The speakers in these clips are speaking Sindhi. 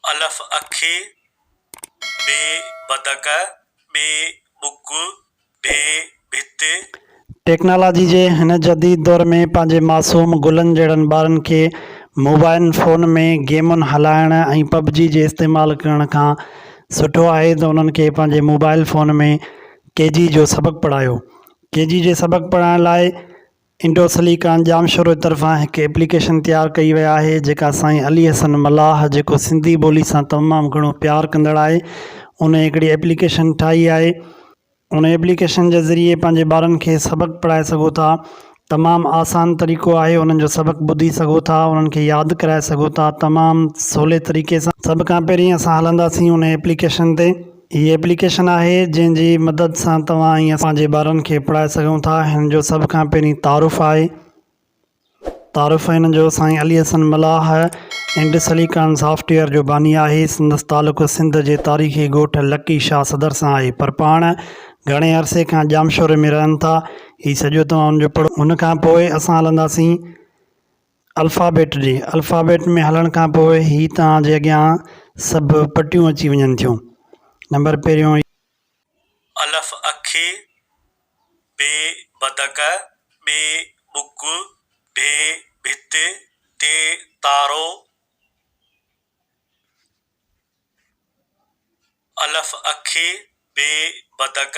الف اکي ب بدڪ ٻ ٻڪ ڍ ڀت. ٽيڪنالاجي جي هن جديد دور ۾ پنهنجي معصوم گلن جهڙن ٻارن کي موبائن فون ۾ گيمون هلائڻ ۽ پب جي جي استعمال ڪرڻ کان سٺو آهي ته انهن کي پنهنجي موبائل فون ۾ ڪي جي جو سبق پڙهايو ڪي جي جي سبق پڙهائڻ لاء انڊو سليڪان ڄام شورو طرفان هڪ ايپليڪيشن تيار ڪئي وئي آهي جيڪا سائين علي حسن ملاح جيڪو سنڌي ٻولي سان تمام گهڻو پيار ڪندڙ آهي انهي هڪڙي ايپليڪيشن ٺاهي آهي انهي ايپليڪيشن جي ذريعي پنهنجي ٻارن کي سبق پڙهائي سگهو ٿا تمام آسان طريقو آهي انهن جو سبق ٻڌي سگهو ٿا انهن کي ياد ڪرائي سگهو ٿا تمام سولي طريقي سان سڀ کان پهرين اسان هلنداسين انهي ايپليڪيشن تي. هي ايپليڪيشن آهي جنهن جي مدد سان توهان ۽ اسان پنهنجي ٻارن کي پڙهائي سگهون ٿا هن جو سڀ کان پهرين تعارف آهي تعارف هن جو سائين Ali Hassan Mallah Indus Silicon Software جو باني آهي سندس تعلق سنڌ جي تاريخي ڳوٺ لڪي شاهه صدر سان آهي پر پاڻ گهڻي عرصي کان ڄامشوري ۾ رهن ٿا هي سڄو توهان ان جو پڙهو ان کان پوء اسان هلنداسين الفابيٽ ڏي، الفابيٽ ۾ هلڻ کان پوء هي توهان جي اڳيان سڀ پٽيون اچي وڃن ٿيون. نمبر پهريون. الف اک، ب بدڪ، ٻ ٻڪ، ڀ ڀت، ت تارو. الف اک، ب بدڪ.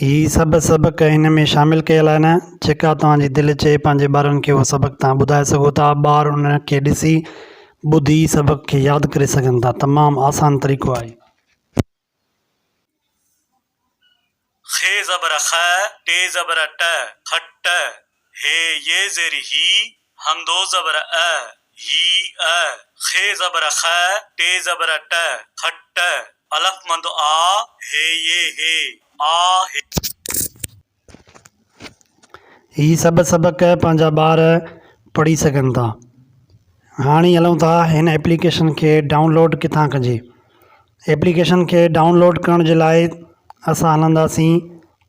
هي سڀ سبق هن ۾ شامل ڪيل آهن، جيڪا توهان جي دل چئي پنهنجي ٻارن کي اهو سبق توهان ٻڌائي سگهو ٿا. ٻار ان کي ڏسي، ٻڌي سبق کي ياد ڪري سگهن ٿا. تمام آسان طريقو آهي. خ زبر خ ٽي زبر ٽ، کٽ. هي ي زير هي همدو زبر ء هي ء خ زبر خ ٽي زبر ٽ کٽ الف مد آ هي ي هي آ هي. هي سڀ سبق پنهنجا ٻار پڙهي سگهن ٿا هاڻي هلون ٿا هن ايپليڪيشن کي ڊائونلوڊ ڪٿان ڪجي ايپليڪيشن کي ڊائونلوڊ ڪرڻ جي لاء اسان هلنداسين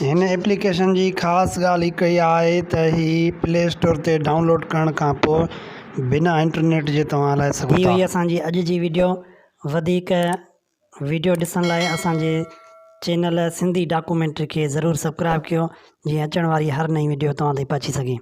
هن ايپليڪيشن جي خاص ڳالهه هڪ اها آهي ته هي پلي اسٽور تي ڊائونلوڊ ڪرڻ کان پوء بنا انٽرنيٽ جي توهان هلائي سگهو ٿا. هي هئي اسان جي اڄ جي ويڊيو وڌيڪ ويڊيو ڏسڻ لاء اسان جي چينل سنڌي ڊاڪومينٽري کي ضرور سبڪرائب ڪيو جيئن اچڻ واري هر نئين ويڊيو توهان تائين پهچي سگهي.